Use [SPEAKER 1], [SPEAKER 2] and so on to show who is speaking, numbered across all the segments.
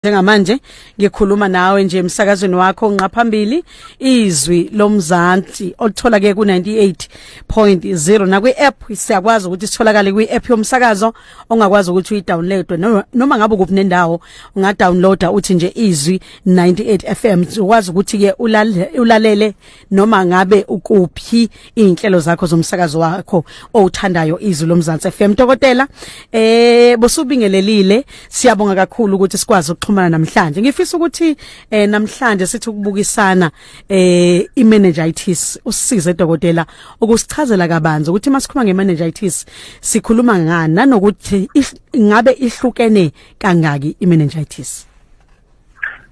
[SPEAKER 1] njengamanje ngikhuluma nawe nje emsakazweni wakho nqaphambili izwi lomzansi olithola ke ku98.0 nakwi app siyakwazi ukuthi sitholakale kwi app yomsakazo ongakwazi ukuthi uyidownload noma ngabe kuphi nendawo ungadownloada uthi nje izwi 98 FM ukwazi ukuthi ke ulalele noma ngabe ukuphi inhlelo zakho zomsakazo wakho owuthandayo izwi lomzansi FM dokotela eh bosubingelelile siyabonga kakhulu ukuthi sikwazi ukuxhumana namhlanje ngifisa ukuthi eh namhlanje sithi ukubukisana eh imeningitis usize dokotela ukusichazela kabanzi ukuthi masikhuluma ngemeningitis sikhuluma ngani nanokuthi ngabe ihlukene kangaki imeningitis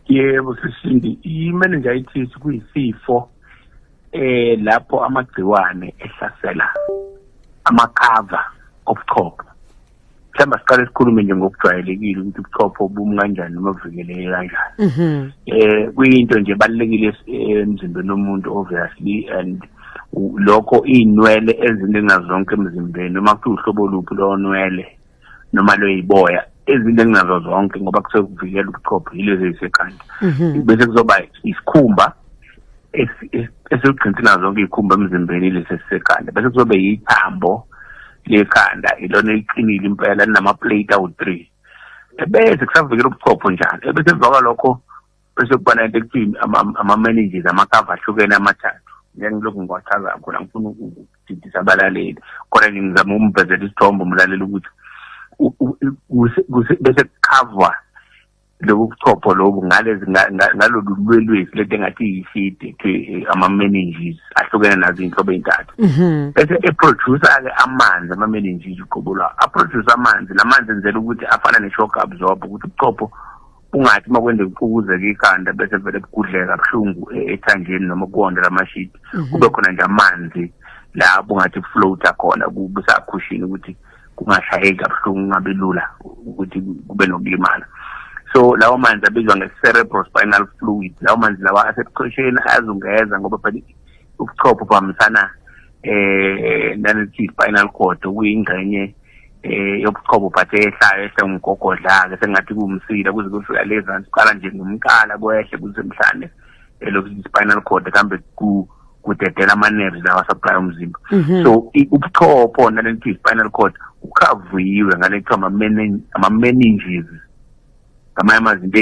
[SPEAKER 2] yebo sisindi i-meningitis kuyisifo eh lapho amagciwane ehlasela amakhava obuchopho mhlawumbe siqale sikhulume nje ngokujwayelekile ukuthi ubuchopho bumi kanjani noma buvikeleke kanjani um mhm. eh, kuyinto nje ebalulekile eh, emzimbeni womuntu obviously and lokho iy'nwele ezininga zonke emzimbeni uma kuthiwa uhlobo luphi lonwele noma lweyiboya ezinto enginazo zonke ngoba kusuke kuvikela ubuchopho yilezo ezisekhanda mhm. bese kuzoba isikhumba esigcina nazo zonke izikhumba emzimbeni lesi esisekhanda bese kuzobe yithambo lekhanda ilona eliqinile impela linama-plate awu-three ebese kusavikela ubuchopho njalo ebese emva kwalokho bese kuba nento ekuthini ama-managers amakava ahlukene amathathu ngengilokhu ngiwachaza khona ngifuna ukudidisa abalaleli khona nje ngizama ukumvezela isithombe umlaleli ukuthi bese kukhavwa lobu buchopho lobu ngalolu lwelwesi lento engathi yiside to eh, ama-managers ahlukene nazo iy'nhlobo ey'ntathu mhm. bese eproducer-ke amanzi ama-managers uqobo lwawo aproduce amanzi la manzi enzela ukuthi afana ne-shogabzobha ukuthi ubuchopho ungathi uma kwende kuqukuzeka ikhanda bese vele kugudleka buhlungu e-, ethanjeni noma kuwonde lamashidi mhm. kube khona nje amanzi lapho ngathi kufloata khona kusakhushini ukuthi kungashayeki kabuhlungu kungabi lula ukuthi kube nokulimala so lawo manzi abizwa nge-cerebral spinal fluid lawo manzi lawa asebuchosheni ayazungeza ngoba phela ubuchopho buhambisana um eh, nane-spinal cord okuyingxenye eh yobuchobo but ehlayo ehle umgogodla ke sengathi kumsile kuze kufika leza siqala nje ngomkala kwehle kuze mhlane elokhu eh, spinal cord kambe ku kudedela ama nerves lawa supply umzimba mhm. so ubuchopho nalento spinal cord ukhavuyiwe ngalento ama ama meninges ngamanye amazinto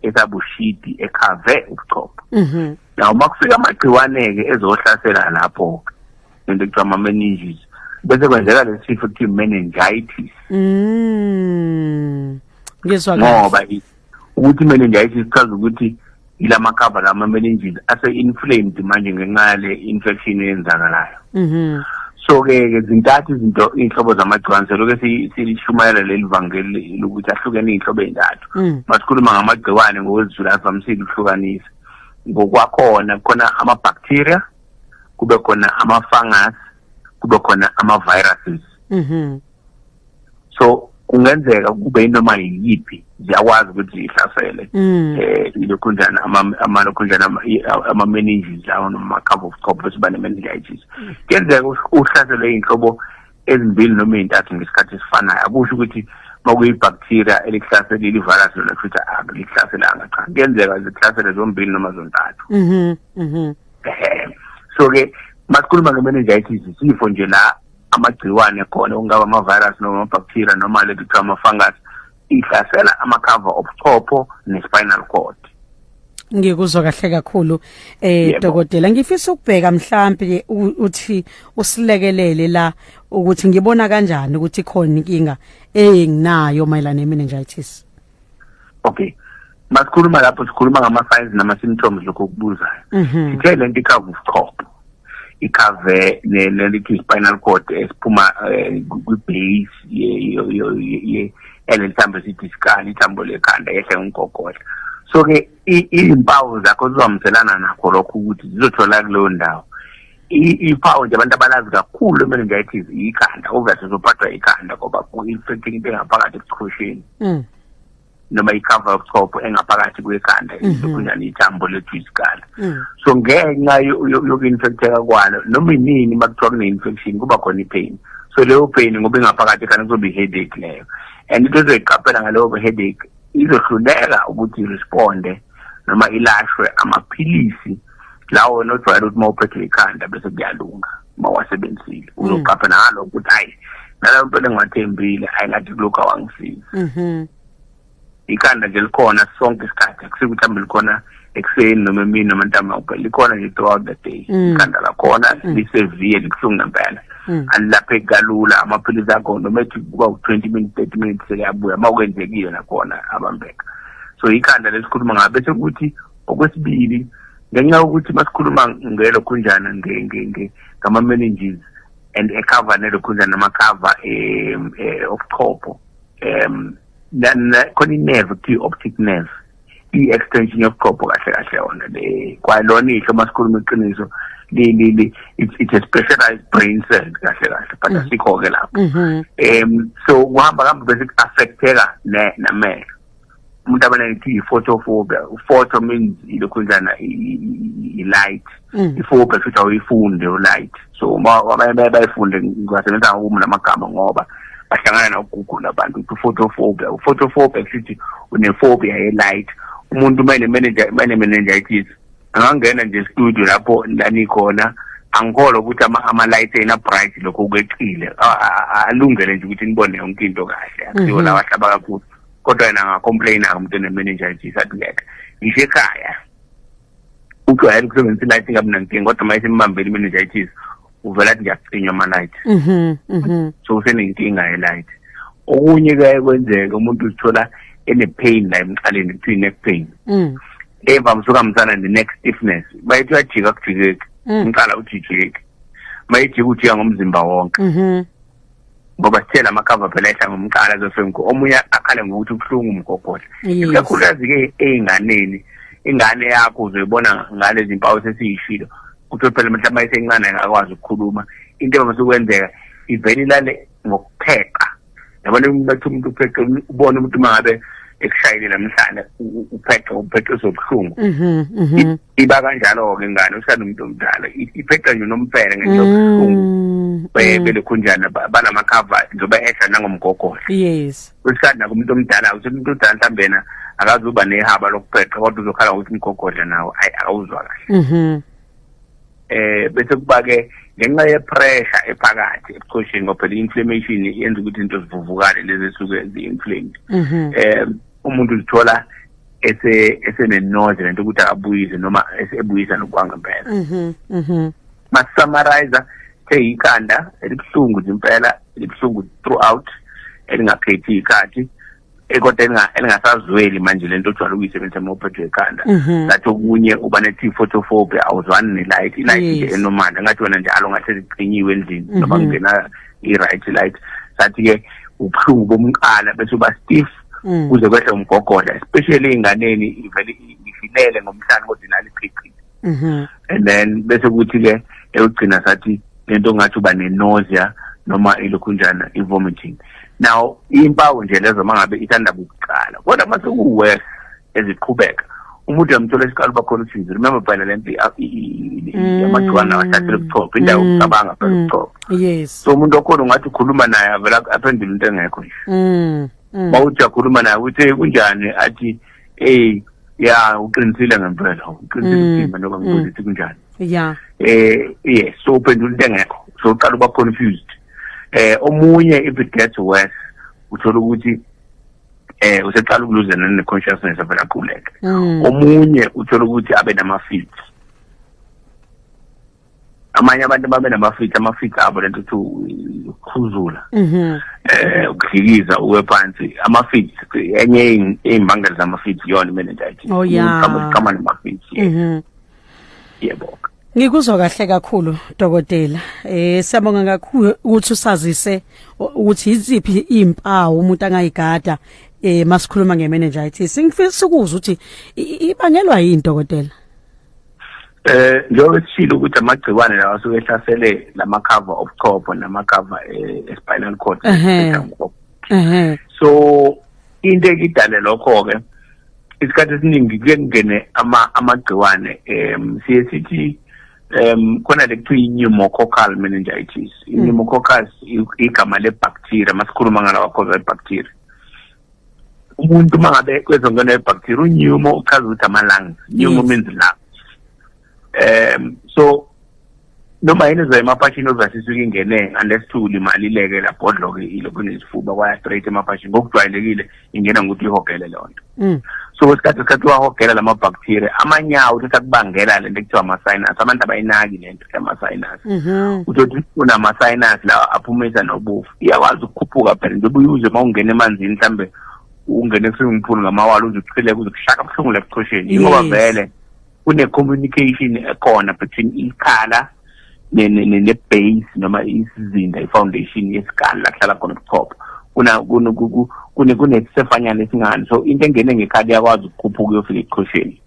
[SPEAKER 2] esabushidi ekhave ubuchopho mhm. now makufika amagciwane ke ezohlasela lapho ke nento ekuthiwa ama-meninges bese kwenzeka lesi sifo kuthiwa i-meningitis mm.
[SPEAKER 1] ngizwa ngoba
[SPEAKER 2] ukuthi i-meningitis sichaza ukuthi ila makhava la ma-meninges ase-inflamed manje ngenxa yale infection eyenzakalayo mm-hmm. so-ke ke zintathu izinto iy'nhlobo zamagciwane seloke silishumayela leli vangeli lokuthi ahlukene iy'nhlobo ey'ntathu mm. masikhuluma ngamagciwane ngokwezizulu avamisile ukuhlukanisa ngokwakhona khona ama-bacteria kube khona ama-fungus kube khona ama-viruses mm -hmm. so kungenzeka kube inoma yiyiphi ziyakwazi ukuthi zihlasele mm. eh ilokhunjana amalokhunjana ama meninges lawo noma cover of top bese bane meningitis mm. kenzeka uhlaselwe inhlobo ezimbili noma ezintathu ngesikhathi esifanayo akusho ukuthi makuyi bacteria elikuhlaselile ivirus lona futhi akulihlaselanga cha kuyenzeka zikuhlasele zombili noma zontathu mhm mhm so ke masikhuluma nge-meningitis isifo nje la amagciwane khona okungaba ama-virus noma ama-bacteria noma le kuthiwa ama-fungus ihlasela amakhava obuchopho ne-spinal cord ngikuzwa
[SPEAKER 1] kahle kakhulu eh dokotela ngifisa ukubheka mhlambi uthi usilekelele la ukuthi ngibona kanjani ukuthi khona inkinga enginayo mayelana nemeningitis okay
[SPEAKER 2] masikhuluma lapho sikhuluma ngama-signs nama-symptoms lokho okubuzayo mhm. sithe le nto ikhava ubuchopho ikhave nelithi i-spinal cord esiphuma eh, kwi-base yaleli thambo esithi isikali ithambo lekhanda yehle ngumgogodla so-ke izimpawu zakho zizwamselana nakho lokho ukuthi zizothola kuleyo ndawo iphawu nje abantu abalazi kakhulu kumele nje ayithi ikhanda obviously uzophathwa ikhanda ngoba ku-infecting into engaphakathi ebuchosheni mm. noma icover yobuchopho engaphakathi kwekhanda mhm. kunjani ithambo lethu isikala mm. so ngenxa yoku-infecteka kwalo noma inini uma kuthiwa kune-infection kuba khona i-pain so leyo pain ngoba ingaphakathi ekhanda kuzoba i-headache leyo and into ezoyiqaphela ngaleyo headache izohluleka ukuthi iresponde noma ilashwe amaphilisi mm. lawo wena ojwayele ukuthi uma uphethe ikhanda bese kuyalunga uma wasebenzile mm. uzoqapha nalo ukuthi hayi nalayo mpela engiwathembile hayi ngathi kulokhu awangisiza mm-hmm. ikhanda nje likhona sonke isikhathi akusike ukuthi hambe likhona ekuseni noma emini noma ntambama kuphela likhona nje throughout the day mm. ikhanda lakhona mm. liseviye libuhlungu ngempela Mm. alilaphe kalula amaphilisi akho noma ethi kuba u-twenty minutes thirty minutes sekuyabuya uma kwenzekile nakhona abambeka so ikhanda lesikhuluma ngabe sekuthi okwesibili ngenxa yokuthi masikhuluma ngelokhunjana ngama-manages and ekhava nelokhunjana namakhava um eh, obuchopho um khona i-nerve kuthiwa i-optic nerve i-extension yobuchopho kahle kahle yona le kwalona ihlo uma sikhuluma iqiniso it's a specialized brain cell kahle kahle but mm-hmm. asikho-ke lapho mm-hmm. um so kuhamba kambe bese ku-affecteka namehlo umuntu abaleke i-photophobia photo means ilokhunjana i-light mm. iphobia futhi awuyifunde u-light so abanye baye bayifunde ngiwasebenzisa ngokumu namagama ngoba bahlangana nokugugula abantu ukuthi u-photophobia u-photophobia sithi unephobia ye-light umuntu uma ene-meningitis angangena nje estudio lapho lanikhona angikholwa ukuthi ama-light ena bright lokho kwecile alungele nje ukuthi nibone yonke into kahle akusiwo mm-hmm. lawa ahlaba kakhulu kodwa yena angacomplaina-ke umuntu enemenenja nje isatuleka ngisho ekhaya ujwayele ukusebenzisa ilight ingamunankinga kodwa uma isimbambele imenenja ithise uvela athi ngiyacinywa ama-light mhm, mhm. so usenenkinga ye-light okunye kuyaye kwenzeke umuntu uzithola ene-pain la emqaleni kuthiwa i-neck pain mm. evamise ukuhambisana ne-neck stiffness bayethi uyajika kujikeki mm. umqala ujijeki mayejika ujika ngomzimba wonke mhm. ngoba sithe la makhava phela ehla ngomqala zofengu omunye akhale ngokuthi ubuhlungu umgogodla ikakhulukazi-ke ey'nganeni ingane yakho uzoyibona ngalezi mpawu sesiyishilo kuthiwe phela mhlawumbe ayisencane akakwazi ukukhuluma into evamisa ukwenzeka ivele ilale ngokupheqa yabona umuntu athi umuntu upheqe ubone umuntu uma ngabe ekushayile namhlanje uphethe uphethe zobuhlungu mhm, mhm. iba kanjalo ke ngane usana umuntu omdala iphethe nje nomfele ngento yobuhlungu mm, mm. belekhunjana banama cover njoba ehla nangomgogodla yes usana
[SPEAKER 1] kumuntu omdala
[SPEAKER 2] uthi umuntu udala mhlambe yena akazuba nehaba lokuphetha kodwa uzokhala ukuthi umgogodla nawo ayi awuzwa kahle mhm. eh bese kuba ke ngenxa yepressure ephakathi ebuchosheni ngoba phela i-inflammation yenza ukuthi into zivuvukale lezi esuke zi-inflamed um umuntu uzithola esenenoze lento ukuthi akabuyise noma esebuyisa nokwangempela mhm, mhm. masusummarize the ikhanda elibuhlungu impela elibuhlungu throughout elingaphethi ikhathi kodwa elinga- elingasazweli manje lento ojwayele ukuyisebenzisa uma uphethwe ikhanda Mhm. ngathi okunye uba ne-t photophobia awuzwani ne-light i-light nje Yes. enormal ngathi wena njalo ngathi liqinyiwe endlini noma Mhm. kungena i-right light sathi-ke ubuhlungu bomqala bese uba stiff Mm. kuze kwehle umgogodla especially ey'nganeni ivele i- ifilele ngomhlane kodwa inalo iqhiqhiqi mhm. and then bese kuthi ke eyogcina sathi lento ngathi uba ne-nausea noma ilokhunjana i-vomiting now impawu nje lezo uma ngabe ithandaba ukuqala kodwa uma sekuwes eziqhubeka umuntu uyamthola esiqala uba khona usizo remember phela le mpi mm. amagciwane awahlathele ubuchopho indawo mm. ucabanga phela mm. ubuchopho yes so umuntu
[SPEAKER 1] okhona ungathi
[SPEAKER 2] ukhuluma naye avela aphendule into engekho nje uma uthi uyakhuluma naye uthi kunjani athi eh ya uqinisile ngempela uqinisile mm, uthimba noma mm. ngibuza ukuthi kunjani ya
[SPEAKER 1] eh yes
[SPEAKER 2] so uphendula into engekho so uqala uba confused eh omunye if it gets worse uthola ukuthi eh useqala ukuluzana ne consciousness avela quleka mm. omunye uthola ukuthi abe nama feet amanye abantu babe namafithi amafithi abo lento ukuthi ukukhuzula mhm. eh ukuhlikiza uwe phansi amafithi enye izimbangela zamafithi yona imeningitis oh, iqhamuka namafithi mhm. yebo Ngikuzwa
[SPEAKER 1] kahle kakhulu dokotela. Eh siyabonga kakhulu ukuthi usazise ukuthi iziphi izimpawu umuntu angayigada eh masikhuluma ngemeningitis. Ngifisa ukuzwa ukuthi ibangelwa yini dokotela? Eh njengoba
[SPEAKER 2] esishilo ukuthi amagciwane lawa asuke ehlasele lama cover of top nama cover eh, espinal cord eh so into ekidale lokho ke isikhathi esiningi kuye kungene ama amagciwane em siye sithi um khona le kuthiwa i-pneumococcal meningitis mm. i-pneumococcal igama le-bacteria masikhuluma ngalawa cause i-bacteria umuntu uma ngabe kwezongena ebacteria unyumo uchaza ukuthi ama-lungs nyumo means lung um so noma yini ezoya emaphashini ozasisa ukingene unless to limalileke labhodloke ilokhu nesifuba kwaya straight emaphashini ngokujwayelekile ingena ngokuthi ihogele leyo nto mm. so kwesikhathi isikhathi wahogela lama bacteria amanyawo uthi sakubangela lento ekuthiwa ama sinus abantu abayinaki lento yama sinus mm-hmm. uthi uthi unama sinus lawa aphumisa nobufu iyakwazi ukukhuphuka phela njengoba uyuze uma ungena emanzini mhlawumbe ungene kwi-swimming pool ngamawala uze kuchileke uze kushaka buhlungu la ebuchosheni ingoba vele kune-communication ekhona between ikhala ne-base noma isizinda i-foundation yesikali la kuhlala khona ubuchopho kunesifanyana esingani so into engene ngekhali iyakwazi ukukhuphuka uyofika ebuchosheni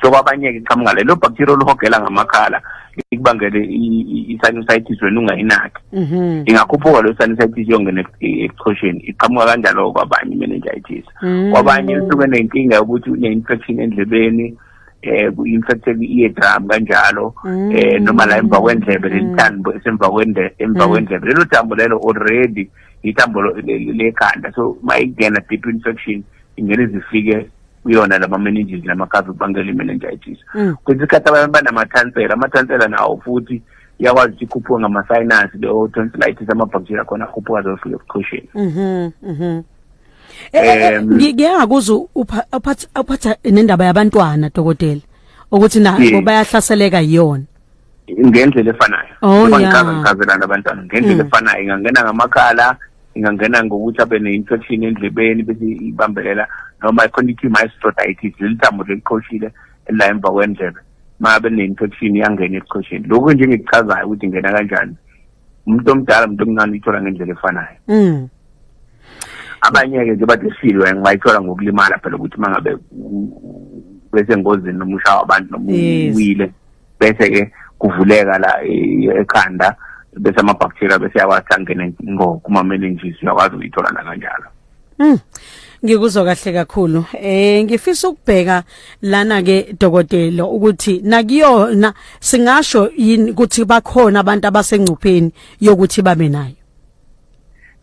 [SPEAKER 2] so kwabanye-ke iqhamuka lelo bacteria oluhogela ngamakhala ikubangele i-sinusitis wena ungayinaki mhm. ingakhuphuka leyo sinusitis yongena ebuchosheni iqhamuka kanjalo kwabanye i-meningitis mm. kwabanye lisuke nenkinga yokuthi une-infection endlebeni eh ku-infected i-eardrum kanjalo mm. eh noma la emva kwendlebe mm. lelithambo esemva kwendlebe emva mm. kwendlebe lelo thambo lelo already ithambo lekhanda so mayingena deep infection ingene zifike kuyona lama meninges lama cover bangela imeningitis mm. kwesinye isikhathi abantu banamathonsela amathonsela nawo futhi iyakwazi ukuthi ikhuphuke ngama-sinus leyo tonsillitis amabhaktheriya khona akhuphuka zohlule ebuchosheni mhm, mhm. Eh,
[SPEAKER 1] eh, eh, ngike ngakuza uphatha nendaba yabantwana dokotela ukuthi nabo bayahlaseleka yiyona ngendlela
[SPEAKER 2] efanayo oh, ngicaka ngichazelana abantwana ngendlela mm. efanayo ingangena ngamakhala ingangena ngokuthi abe ne-infection endlebeni bese ibambelela noma khona ithi maestrotitis leli thambo leliqhoshile elila emva kwendlebe uma abe ne-infection iyangena ebuqhosheni lokhu nje ngikuchazayo ukuthi ingena kanjani umuntu omdala umuntu omncane uyithola ngendlela efanayo mm. abanye-ke nje bathi silwe ngibayithola ngokulimala phela ukuthi uma ngabe besengozini noma ushawa abantu noma uwile yes. bese ke kuvuleka la ekhanda bese ama bacteria bese yawathi angene ngo kuma meninges uyakwazi ukuyithola la kanjalo Mm.
[SPEAKER 1] Ngikuzwa kahle kakhulu. Eh ngifisa ukubheka lana ke dokotela ukuthi nakuyona singasho yini ukuthi bakhona abantu abasengcupheni yokuthi babe nayo.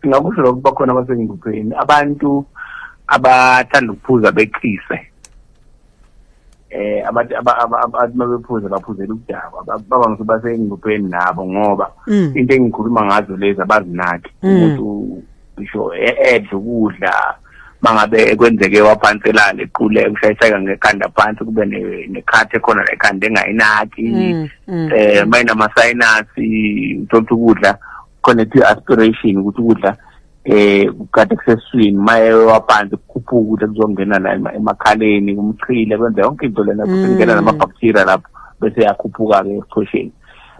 [SPEAKER 2] Singakusho lokho bakhona abasengcupheni. Abantu abathanda ukuphuza beqise. eh abantu abantu mabephuza baphuzela ukudakwa baba ngithi basengcupheni nabo ngoba mm. into engikhuluma ngazo lezi abazinaki mm. umuntu ngisho e-, edla ukudla mangabe kwenzeke waphanselana equle ushayiseka ngekhanda phansi kube nekhathi ekhona la ekhanda engayinaki mm, mm. eh mayinama-sinus uthola ukudla khona kuthiwa aspiration ukuthi ukudla eh kukade kuseswini maye wapanzi kukhuphuka ukuthi kuzongena la emakhaleni kumchile kwenza yonke into lena futhi mm. ngena nama bacteria lapho bese yakhuphuka ke esichosheni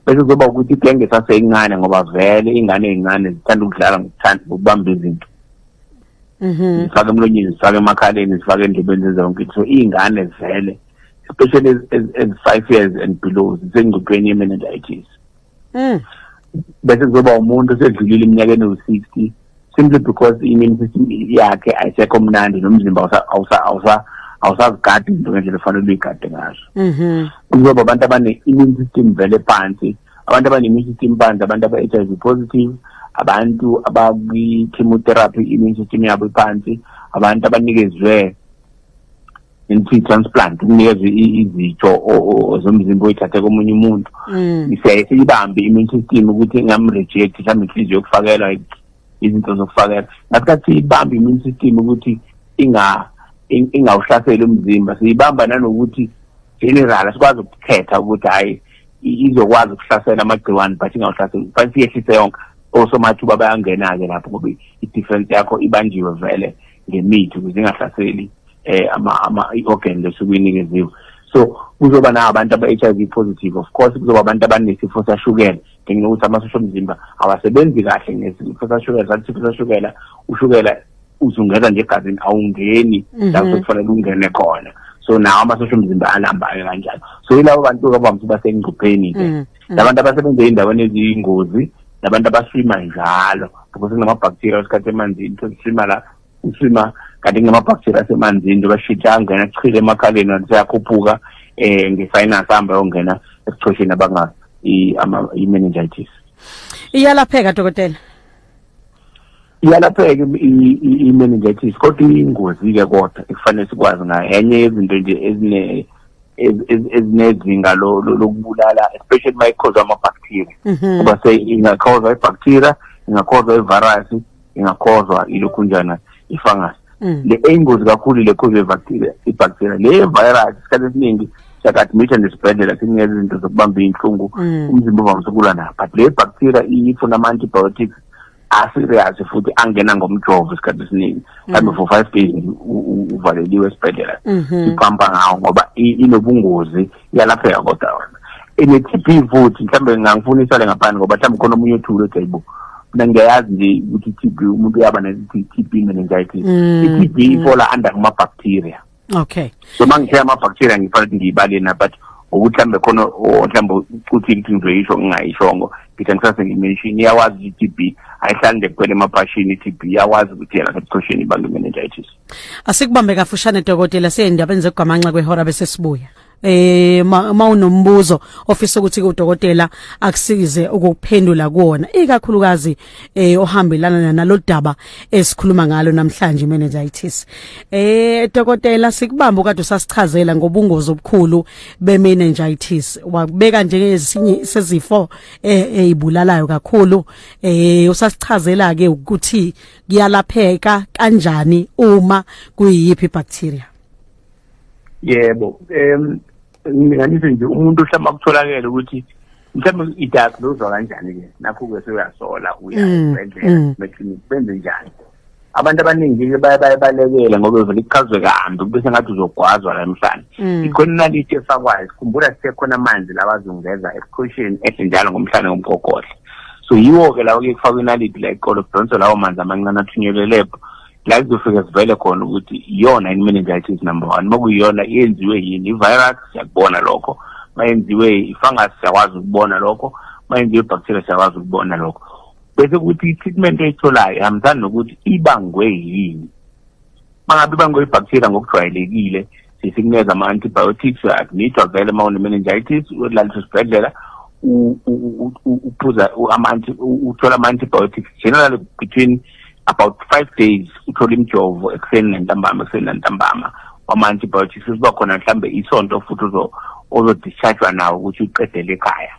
[SPEAKER 2] bese kuzoba ukuthi igenge saseyincane ngoba vele ingane ezincane zithanda ukudlala ngokuthanda ukubamba izinto mhm zifaka emlonyeni zifaka emakhaleni zifaka endlebeni zenza yonke into so ingane vele especially as, as, as five years and below zisengcupheni ye-meningitis mm. bese kuzoba umuntu osedlulile iminyakeni ewu-60 simply because i-immune system yakhe ayisekho mnandi nomzimba awusazigadi into ngendlela efanele uyigade ngazo mm-hmm. kuzoba abantu abane-immune system vele phansi abantu abane-immune system phansi abantu aba-h i v positive abantu abakwi-chemotherapy i-immune system yabo iphansi abantu abanikezwe into transplant ukunikeza izitho zomzimba oyithathe komunye umuntu mm. siyaye siyibambe immune system ukuthi ngamreject mhlawumbe inhliziyo yokufakelwa izinto zokufakela ngasikhathi siyibambe immune system ukuthi inga ingawuhlaseli umzimba siyibamba nanokuthi general asikwazi ukukhetha ukuthi hayi izokwazi ukuhlasela amagciwane but ingawuhlaseli but siyehlise yonke osomathuba bayangena-ke lapho ngoba i-difference yakho ibanjiwe vele ngemithi ukuze ingahlaseli eh ama ama i-organ lesuke inikeziwe so kuzoba na abantu aba-HIV positive of course kuzoba abantu abanesifo sashukela ngenxa yokuthi amasosha omzimba awasebenzi kahle ngesifo sashukela sathi isifo sashukela ushukela uzungeza nje egazini awungeni mhm. lapho kufanele ungene khona so nawo amasosha omzimba alambayo kanjalo so yilabo bantu abamthi basengcupheni-ke mhm. mm. labantu abasebenza ey'ndaweni eziyingozi nabantu abaswima njalo ngoba sekunamabhaktheriya wesikhathi emanzini sesiswima la uswima kanti kunamabhaktheriya asemanzini njengoba shitha angena chile emakhaleni kanti seyakhuphuka um nge-finance ahambe yongena ebuchosheni abanga
[SPEAKER 1] i-meningitis
[SPEAKER 2] iyalapheka dokotela iyalapheka i-meningitis kodwa iyingozi-ke kodwa ekufanele sikwazi ngayo enye yezinto nje ezine ezinezinga lokubulala especially uma ikhozwa ama-bacteria mhm. ngoba se ingakhozwa i-bacteria ingakhozwa i-virus ingakhozwa ilokhunjana i-fungus mm. le eyingozi kakhulu le cause yebacteria ibacteria le virus isikhathi esiningi siyakadmita nesibhedlela sinikeza izinto zokubamba iy'nhlungu mm. umzimba uvamise ukulwa nayo but le bacteria ifuna ama-antibiotics aserious futhi angena ngomjovo isikhathi esiningi mhlawumbe mm. for five days uvaleliwe esibhedlela mm-hmm. iphampa ngawo ngoba inobungozi mm -hmm. yalapheka kodwa wena ene-tb futhi mhlawumbe ngangifuna isale ngaphandle ngoba mhlawumbe khona omunye othule othi ayibo mina ngiyayazi nje ukuthi i-tb umuntu uyaba ne-tb meningitis mm, i-tb mm. ifola under kuma-bacteria okay
[SPEAKER 1] so uma ngithe
[SPEAKER 2] ama-bacteria ngifanele ukuthi ngiyibalena but ukuthi mhlawumbe khona mhlawumbe ukuthi ukuthi ngizoyisho ngingayishongo ngithi angisase ngimenshini iyawazi ukuthi i-tb ayihlali nje kuphela emabhashini i-tb iyawazi ukuthi yena sebuchosheni ibantu meningitis Asikubambe
[SPEAKER 1] kafushane dokotela siyendabeni zegwamanxa kwehora bese sibuya. eh mawunombuzo ofisa ukuthi udokotela akusize ukuphendula kuona ikakhulukazi eh ohambelana nalodaba esikhuluma ngalo namhlanje meningitis eh dokotela sikubamba kade usasichazela ngobungozi obukhulu be meningitis wakubeka njengezinye sezifo eh ezibulalayo kakhulu eh usasichazela ke ukuthi kuyalapheka kanjani uma kuyiyiphi bacteria
[SPEAKER 2] yebo em nginganise nje umuntu hlama kutholakele ukuthi mhlawumbe idatha lozwa kanjani ke nakho ke seyasola uya mm, esibhedlela mm. meclinic benze njani abantu abaningi-ke baye bayebalekela ngoba uvele ichazwe kambi kube sengathi uzogwazwa la mhlane mm. ikhona inaliti efakwayo sikhumbula sisekhona amanzi labazungeza esikhosheni ehle njalo ngomhlane ngomgogodla so yiwo-ke lawo kuye kufakwa inalidi la eqolo kudonswe lawo manzi amancane athunyelwe lebho la kuzofike sivele khona ukuthi iyona yini meningitis number one uma kuyiyona yenziwe yini i-virus siyakubona lokho uma yenziwe i-fungus siyakwazi ukubona lokho uma yenziwe i-bacteria siyakwazi ukubona lokho bese kuthi i-treatment oyitholayo ihambisani nokuthi ibangwe yini bangabe bangoyibhaktheriya ngokujwayelekile sisikuneza ama-antibiotics akunithwa vele uma une-meningitis ulaliswa esibhedlela uphuza uthola ama-antibiotics generally between about five days uthola imijovo ekuseni nentambama ekuseni nantambama wama-antibiotics usiba khona mhlawumbe isonto futhi ozodischargwa nawo ukuthi uqedele ekhaya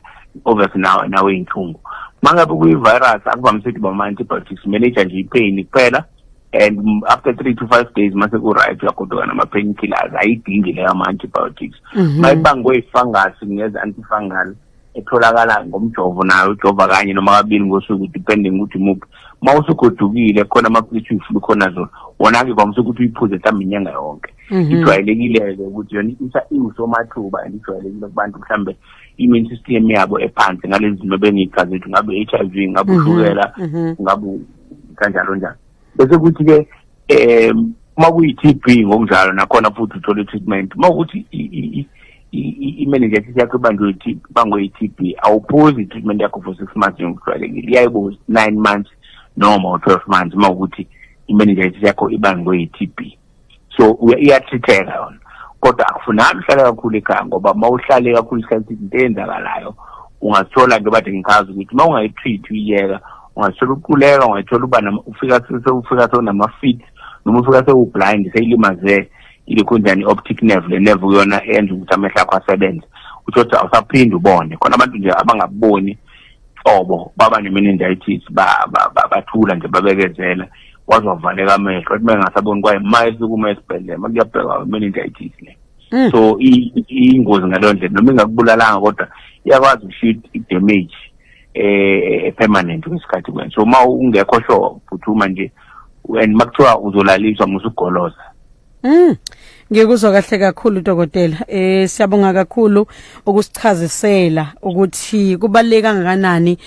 [SPEAKER 2] obviously nawe nawe inhlungu mangabe kuyi-virus akuvamise ukuthi bama-antibiotics manager nje ipain kuphela and after three to five days mase ku-right uyagodoka nama-pain killers ayidingi leyo ama-antibiotics mhm. mayibangwe i-fungus ngeza antifungal etholakala ngomjovo nayo ujova kanye noma kabili ngosuku depending ukuthi muphi ma usugodukile khona amaphilisi uyifuna ukhona zona wona-ke kwamise ukuthi uyiphuze mhlawumbe inyanga yonke mhm. ijwayelekile-ke ukuthi yona isa iwusomathuba and ijwayelekile kubantu mhlawumbe i-immune system yabo ephansi ngalezi zimo bengiyichazethu ngabe-h i v ngabe mhm. ushukela ngabe kanjalo njalo bese kuthi ke um uma kuyi-tb ngokunjalo nakhona futhi uthole i-treatment uma ukuthi i-meningitis yakho ibanjwe bangwe i-tb awuphuzi i-treatment yakho for six months njengokujwayelekile iyayibo nine months noma u-twelve months uma ukuthi i-meningitis yakho ibanjwe yi-tb so iyathitheka yona kodwa akufunani uhlale kakhulu ekhaya ngoba uma uhlale kakhulu isikhathi into eyenzakalayo ungazithola nto bathi ngikhazi ukuthi uma ungayitreat uyiyeka ungazithola uquleka ungayithola uba ufika sewufika sewunama-fit noma ufika sewublind seyilimazeke ilokhu njani i-optic nerve le nerve kuyona eyenza ukuthi amehlo akho asebenze utsho ukuthi awusaphinde ubone khona abantu nje abangaboni qobo baba ne-meningitis bathula nje babekezela ba, ba, waze wavaleka amehlo ethi mengasaboni kwaye ma esukume esibhedlela ma kuyabheka meningitis le mm. so iyingozi ngaleyo ndlela noma ingakubulalanga kodwa iyakwazi ukushiya i-damage eh, eh permanent kwesikhathi kwena so uma ungekho sure phuthuma nje and makuthiwa uzolaliswa musugoloza Mm.
[SPEAKER 1] Ngikuzwa kahle kakhulu dokotela. Eh siyabonga kakhulu ukusichazisela ukuthi kubaleke kangakanani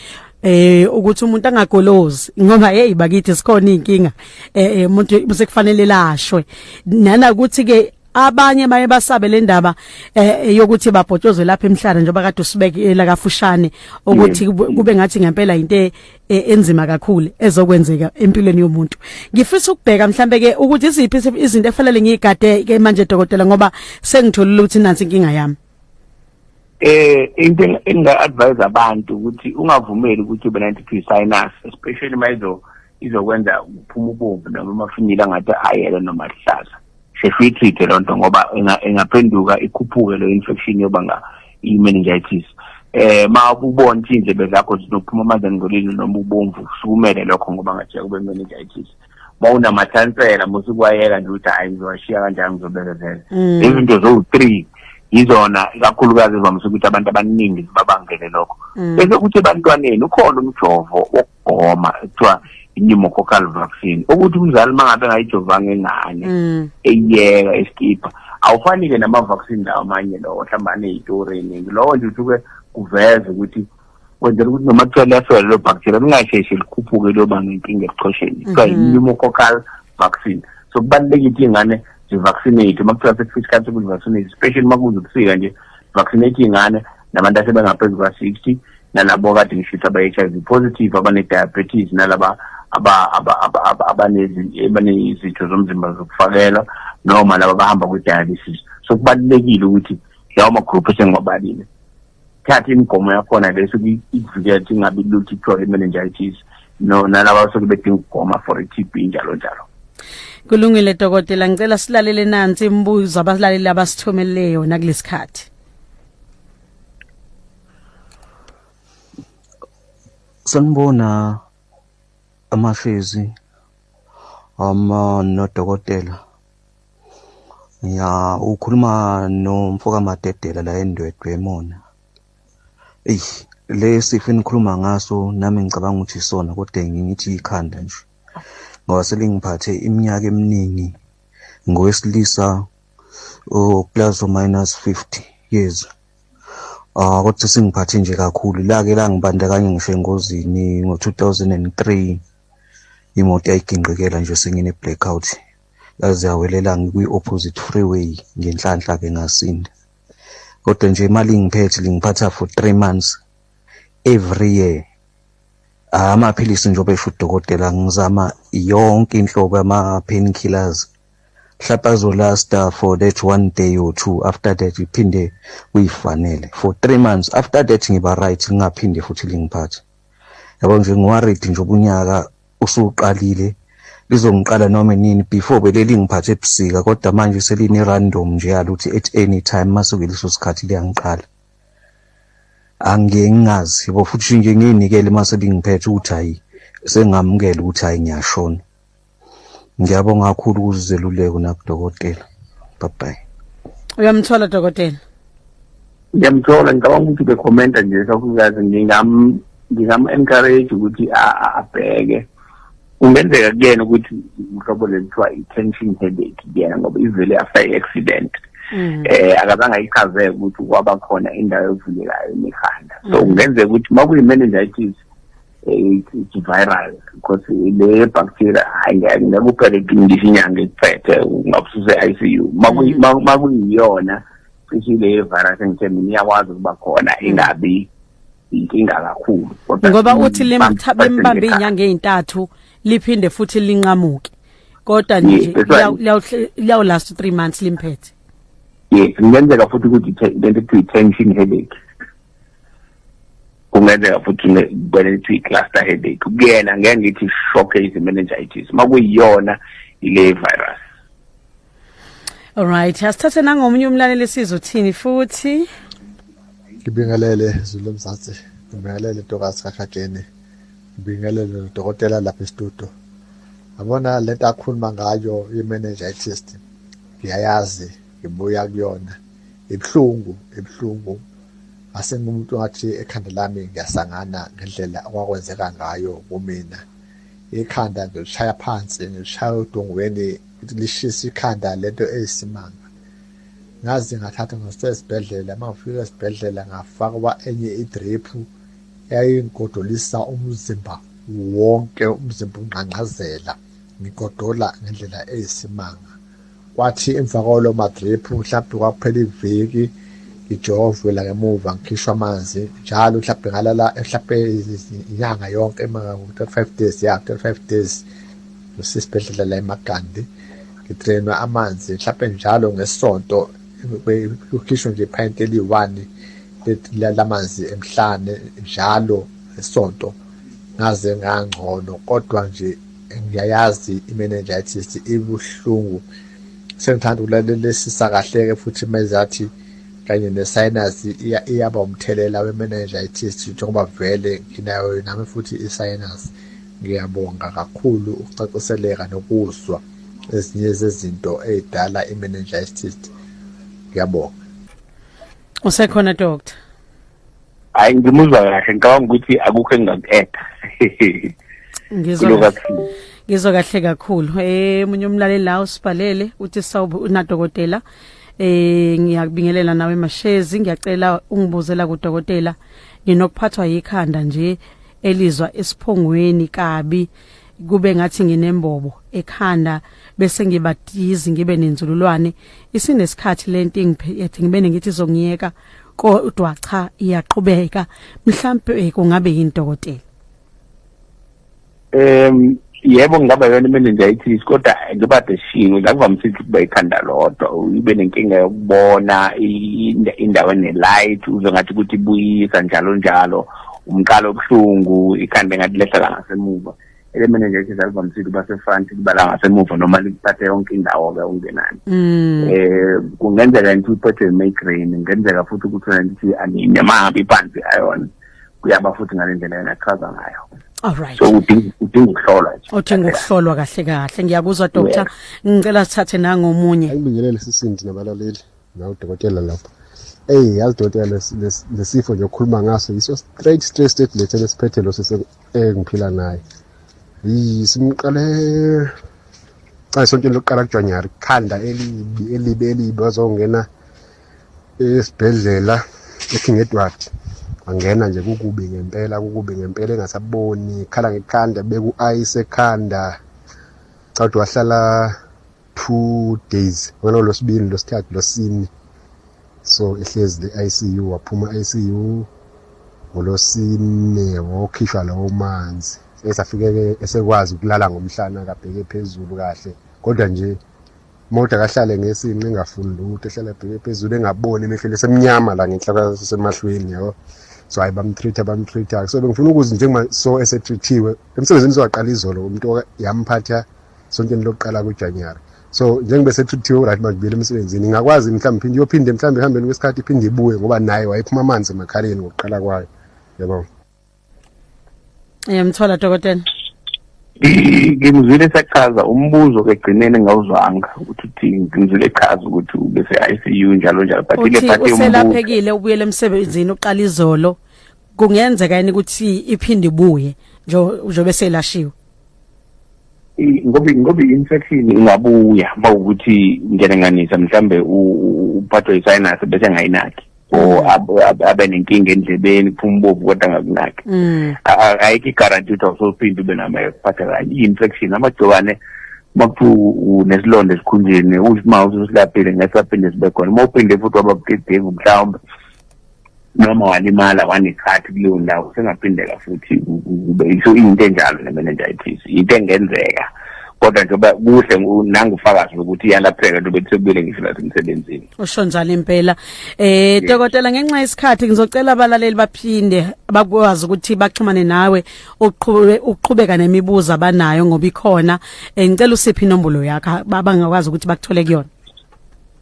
[SPEAKER 1] eh ukuthi umuntu angagolozi ngoba hey bakithi sikhona inkinga eh, eh umuntu usekufanele lashwe nana ukuthi ke abanye baye basabe le ndaba eh, eh yokuthi babhotshozwe lapha emhlanje njengoba kade usibeke eh, la kafushane ukuthi kube ngathi ngempela into e, enzima kakhulu ezokwenzeka empilweni yomuntu ngifisa ukubheka mhlambe ke ukuthi iziphi izinto efanele ngiyigade ke manje dokotela ngoba sengitholile ukuthi nansi inkinga yami eh into enga advise abantu ukuthi ungavumeli ukuthi ube 90 sinus especially mayizo
[SPEAKER 2] izokwenza uphuma ubomvu noma amafinyila ngathi ayelo noma ahlaza sesiyitreat-e loo nto ngoba ingaphenduka ikhuphuke leyo infection yobanga i-meningitis eh ma ubona ukuthi indlebe zakho zinokuphuma amanzi angcolile noma ubomvu usukumele lokho ngoba ngathi yakube meningitis uma unamathansela musa ukwayeka nje ukuthi hhayi ngizowashiya kanjani ngizobekezela mm. izinto zowu-three yizona ikakhulukazi ezivamise ukuthi abantu abaningi zibabangele lokho mm. bese kuthi ebantwaneni ukhona umjovo ukugoma ekuthiwa i-pneumococcal vaccine ukuthi umzali uma ngabe engayijovanga ingane mm. eyiyeka esikipha awufani-ke nama-vaccine lawo amanye lowo mhlawumbe aneyitoreni lowo nje usuke kuveze ukuthi kwenzela ukuthi noma kuthiwa liyafela lelo bacteria lingasheshe likhuphuke liyoba nenkinga ebuchosheni kuthiwa mm-hmm. yi-pneumococcal vaccine so kubalulekile ukuthi iy'ngane zivaccinate uma kuthiwa sekufika isikhathi sokuzivaccinates especially uma kuze ubusika nje vaccinate iy'ngane nabantu asebengaphezu kwa-60 nalabo kade ngishuthi aba-h i v positive abane-diabetes nalaba abanezitho zomzimba zokufakelwa noma laba abahamba kwi-dialysis so kubalulekile ukuthi lawo magruphu esengiwabalile thatha imigomo yakhona le suke ikuvikela ukuthi ingabi lutho ithole i-meningitis no nalaba basuke bedinga ukugoma for i-t b njalo njalo kulungile
[SPEAKER 1] dokotela ngicela silalele nansi imibuzo abalaleli abasithumelele yona kulesikhathi
[SPEAKER 3] Sanibona amahlezi ama nodokotela ya ukhuluma nomfoka Madedela la endwedwe emona eyi lesifo enikhuluma ngaso nami ngicabanga ukuthi isona kodwa ngithi ikhanda nje ngoba selingiphathe iminyaka eminingi ngowesilisa uplus oh, minus 50 years ah kodwa singiphathe nje kakhulu lake langibandakanye ngisho engozini ngo-2003 imoto yayigingqikela nje sengine blackout yaze yawelela ngikwi-opposite freeway ngenhlanhla ke ngasinda kodwa nje imali ingiphethe lingiphatha for three months every year amaphilisi njengoba esho udokotela ngizama yonke inhlobo ama-painkillers hlapazo lasta for that one day or two after that iphinde kuyifanele for three months after that ngiba right ngingaphinde futhi lingiphathe yabo nje ngiwaredi nje ubunyaka usuqalile lizongiqala noma nini before beleli ngiphathe ebusika kodwa manje seline random nje yaluthi at any time masuke leso sikhathi liyangiqala angengazi yabo futhi nje ngiyinikele mase lingiphethe ukuthi hayi sengamukela ukuthi hayi ngiyashona ngiyabonga kakhulu ukuzeluleko nakudokotela bye bye uyamthola
[SPEAKER 1] dokotela
[SPEAKER 2] ngiyamthola ngicabanga ukuthi bekhomenta nje kakhulukazi ngingam ngingam-encourage ukuthi abheke kungenzeka kuyena ukuthi uhlobo lelithiwa i-tension headache kuyena ngoba ivele after i-accident um akazange ayichazeke ukuthi kwaba khona indawo evulekayo nekhanda so mm. kungenzeka ukuthi uma kuyi-meningitis it's viral because le bacteria hayi ngeke ngeke uphele ngisho inyanga iphethe ungabususe ICU makuyiyona cishe le virus engithe mina iyakwazi ukuba khona ingabi inkinga kakhulu ngoba uthi
[SPEAKER 1] limbambe inyanga ezintathu liphinde futhi linqamuke kodwa nje liyawu last 3 months limphethe yes
[SPEAKER 2] ngenzeka futhi ukuthi lento kuthiwa tension headache kungenzeka futhi kwena lithi cluster headache kuyena ngeke ngithi shock is meningitis makuyiyona ile virus
[SPEAKER 1] Alright, asithathe nangomunye umlaleli sizwe uthini futhi.
[SPEAKER 4] Ngibingelele Zulu Mzansi. Ngibingelele Ntokazi kaHajeni. Ngibingelele udokotela lapha estudio. Yabona lento akhuluma ngayo i-meningitis. Ngiyayazi, ngibuya kuyona. Ibuhlungu, ibuhlungu. Ngase ngumuntu ngathi ekhanda lami ngiyasangana ngendlela okwakwenzeka ngayo kumina. Ikhanda ngilishaya phansi, ngilishaya odongweni, lishisa ikhanda lento eyisimanga. Ngaze ngathatha ngase esibhedlela, uma ngifika esibhedlela ngafakwa enye idriphu yayingigodolisa umzimba wonke, umzimba ungqangqazela, ngigodola ngendlela eyisimanga. kwathi emva kwalo madrip mhlawumbe kwakuphela iviki ngijovwe la ngemuva ngikhishwa amanzi njalo mhlawumbe ngalala mhlawumbe inyanga yonke ema-35 days ya 35 days ngisesibhedlela la emagandi ngidrenwa amanzi mhlawumbe njalo ngesonto kukhishwe nje iphayinti eliyi-one lamanzi emhlane njalo ngesonto ngaze ngangcono kodwa nje ngiyayazi i-meningitis ibuhlungu sengithanda ukulalelisisa kahle-ke futhi mezathi kanye ne-sinus iyaba umthelela we-meningitis njengoba vele nginayo nami futhi i-sinus ngiyabonga kakhulu ukucaciseleka nokuzwa ezinye zezinto ey'dala i-meningitis ngiyabonga
[SPEAKER 1] usekhona doctor
[SPEAKER 2] hayi ngimuzwa kahle ngicabanga ukuthi akukho engingaku-eda ngizwa
[SPEAKER 1] ngizwa kahle kakhulu eh munye umlaleli la usibhalele uthi sawubu unadokotela eh ngiyakubingelela nawe mashezi ngiyacela ungibuzela kudokotela nginokuphathwa yikhanda nje elizwa esiphongweni kabi kube ngathi nginembobo ekhanda bese ngibadizi ngibe nenzululwane isinesikhathi lento ingiphethe ngibe ngithi izongiyeka kodwa cha iyaqhubeka mhlambe eh, kungabe yindokotela em
[SPEAKER 2] yebo ngaba yona meningitis kodwa ngibade shinwe la kuvamise ukuthi kuba ikhanda lodwa ube nenkinga yokubona indawo enelight uze ngathi ukuthi buyisa njalo njalo umqalo obuhlungu ikhanda engathi lehla la ngasemuva elemene nje idlala bamsile uba sefront libala ngasemuva noma likuphathe yonke indawo-ke ungenani um mm. eh, kungenzeka ngithi uphethwe yi-migraine kungenzeka futhi ukuthi wena ngithi anime mahambe iphansi ayona kuyaba futhi ngale ndlela yena achaza ngayo Alright. So udinga
[SPEAKER 1] udinga
[SPEAKER 2] ukuhlolwa nje. Udinga ukuhlolwa kahle
[SPEAKER 1] kahle. Ngiyakuzwa doctor. Ngicela sithathe nangomunye. Ayibingelele sisindi
[SPEAKER 5] nabalaleli. nawu dokotela lapho eyi yazi dokotela lesifo nje okhuluma ngaso yiso straight straight straight lethe lesiphethe lo sisi engiphila naye yi simqale xa isontweni lokuqala kujanuwari khanda elibi elibi elibi wazongena esibhedlela eking edward wangena nje kukubi ngempela kukubi ngempela engasaboni khala ngekhanda beku-ice ekhanda cha ukuthi wahlala two days wena losibili losithathu losini so ehlezi le ICU waphuma ICU ngolosine wokhishwa lawo manzi esafike esekwazi ukulala ngomhlana kabheke phezulu kahle kodwa nje moda kahlale ngesinqe engafuni lutho ehlala bheke phezulu engaboni emehlweni esemnyama la ngenhla semahlweni yabo so hayi bamtreat abamtreat so bengifuna ukuzi njengoba so esetreatiwe emsebenzini sowaqala izolo umuntu yamphatha sontweni lokuqala kujanuary so njengobe sethuthiwe uright manje buyela emsebenzini ingakwazi mhlawumbe phinde iyophinde mhlawumbe ehambeni kwesikhathi iphinde ibuye ngoba naye wayephuma amanzi emakhaleni ngokuqala kwayo yabo
[SPEAKER 1] yamthola dokotela ngimzwile
[SPEAKER 2] esachaza umbuzo kegcineni ngawuzwanga ukuthi uthi ngimzwile echaza ukuthi ubese-icu njalo njalo but ile phathi yombuselaphekile ubuyele
[SPEAKER 1] emsebenzini uqala izolo kungenzeka yini ukuthi iphinde ibuye njobe selashiwe ngoba
[SPEAKER 2] ngoba infection ingabuya bawukuthi ngiyalenganisa mhlambe uphathwe isinus bese ngayinaki or mm. abe nenkinga endlebeni kuphuma ubovu kodwa ngakunaki mm. ayikho igaranti ukuthi awusophinde ube namayo kuphatha kanye i-infection amagciwane makuthiwa unesilonda esikhunjeni usimawusi usilaphile ngeke saphinde sibe khona uma uphinde futhi wababudedengu mhlawumbe noma walimala wanekhathi kuleyo ndawo sengaphindeka futhi kube iso into enjalo ne-meningitis into engenzeka kodwa njengoba kuhle nangufakazi lokuthi iyalapheka njengoba kusebuyele ngisho nasemsebenzini usho njalo impela
[SPEAKER 1] eh dokotela ngenxa yesikhathi ngizocela abalaleli baphinde bakwazi ukuthi baxhumane nawe uqhube uqhubeka nemibuzo abanayo ngoba ikhona eh, ngicela usiphi inombolo yakho babangakwazi ukuthi bakuthole kuyona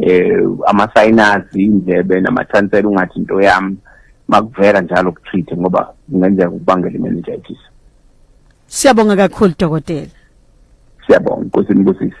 [SPEAKER 2] eh amasayinazi indlebe namathansela ungathi into yami makuvela njalo kutreat ngoba kungenzeka ukubangela imeningitis
[SPEAKER 1] Siyabonga kakhulu
[SPEAKER 2] dokotela Siyabonga inkosi
[SPEAKER 1] inibusise